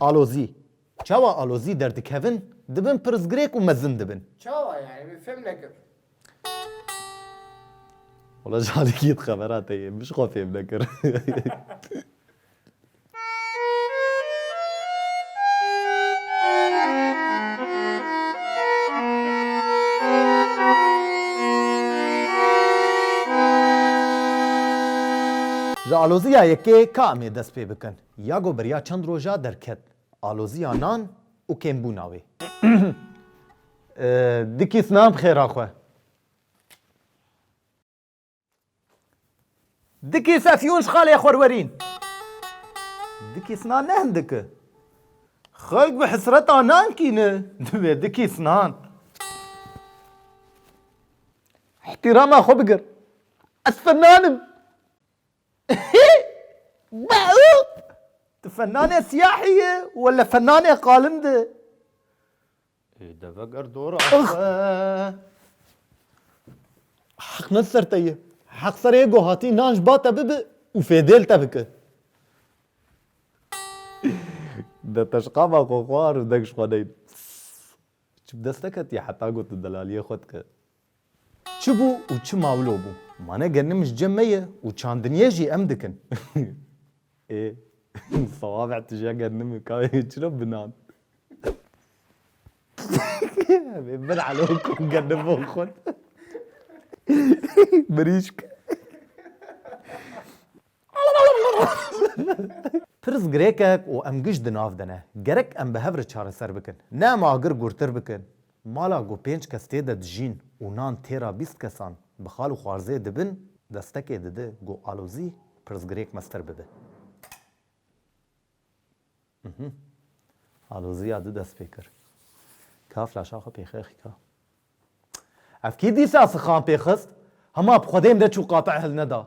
Alozî, Çawa alozî derdikevin, dibin pirsgirêk û mezin dibin. Çawa yani min fem nekir. Wala canikî di xebera te yê, min ji xwe fêm nekir. Ji alozîya yekê ka em ê dest pê bikin? Yago beriya çend roja derket aloziya nan û kêmbûna wê. Dikî sna bi xêra xwe. Dikî sesiyûn ji xalê xwe re werîn. Dikî sna ne hindik e. Xelk bi hisreta nan kîn e. Divê dikî snan. Îhtîrama xwe bigir. Ez snan im. Tu fennanê siyahî yî wele fennanê qalin di. Ê de veger dora xwe. Heq ne ser te ye. Heq ser ê ku hatî nan ji ba te bibe û fêdêl te bike. De teşqama xwe xwar û deng ji xwe neyne. Çi bi dest neketiye heta ku tu delaliyê xwe dike. Çi bû û çi mawlo bû? Mane genim ji cem me ye û çandiniyê jî em dikin. Ê sawabe tu jî genim î ka çira binan? Ebê min elo ku genim bo xwe mirîşk. Pirs girêkek û em giş di nav de ne. Gerek em bi hev re çareser bikin. Ne em agir gurtir bikin. Mala ku pênc kes tê de dijîn û nan têra bîst kesan bi xal û xwarzê dibin, destekê dide ku alozî pirsgirêk meztir bibe. Uhmm. Aloziya di dest pê kir. Ka flaşa xwe pêxê xîka. Ev kî dîsa sixan pê xist? Hema bi xwedê min re çû qate hilneda.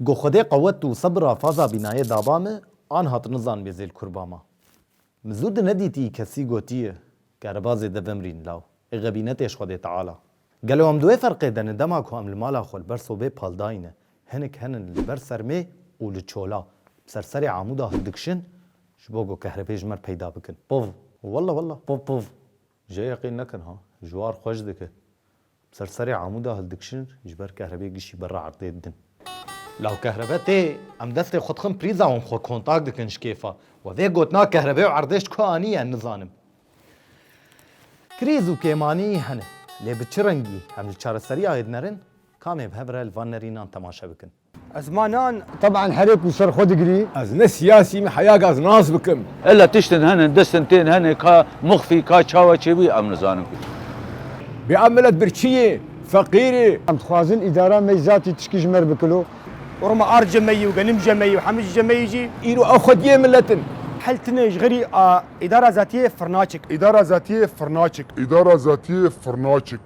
Go Xwedê qewet û sebira faza bînayê da ba me, an hat nizan bê zêl kur ba ma. Min zû di nedîtî kesî gotiye ke riba zêde vimrîn law ê xebînetê ji Xwedê Teala. Gelo em di wê ferqê de ne dema ku em li mala xwe li ber sobê pal dayîne, hinek henin li ber sermê û li çola bi ser serê amûda hildikşin ji bo ku kehrebê ji me peyda bikin. Pov! Walla walla! Pov pov! Jê yeqîn nekin ha. Ji war xwe ji dike. Bi ser serê amûda hildikşin ji ber kehrebê gişî berra erdê didin. Law kehrebe tê. Em destê xwe dixin prîza wan xwe kontak dikin ji kêfa we. Vê gotina kehrebê û erdê ji ku aniye nizanim. Krîz û kêmanî hene. Lê bi çi rengî? Em li çareseriyayê dinerin? Kamê bi hev re li van nerînan temaşe bikin. Ezmanan teban herê ku ser xwe digirî. Ez ne siyasî me heya gaz nas bikim. Ella tiştin hene, distin tên hene ka muxfî ka çawa çêbûyî em nizanin ku. Bê em milet birçî yê, feqîr ê. Em dixwazin îdara me yî zatî tişkî ji me re bikilo. Roma ard je me yî û genim je me yî û hemû ji je me yî jî. Îro ew xwediyê milet in. Hel tine ji xirî a îdara zatiyê firnaçik. Îdara zatiyê firnaçik. Îdara zatiyê firnaçik.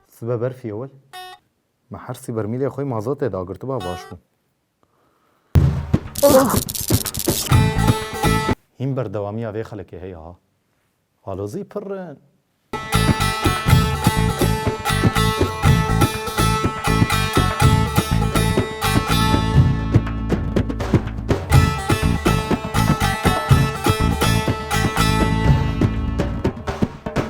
Sibe berfî ewil me hersî bermîlê xwe mazotê da girtiba baş bû. Hîn berdewamiya vê xelekê heye ha. Alozî pirrin.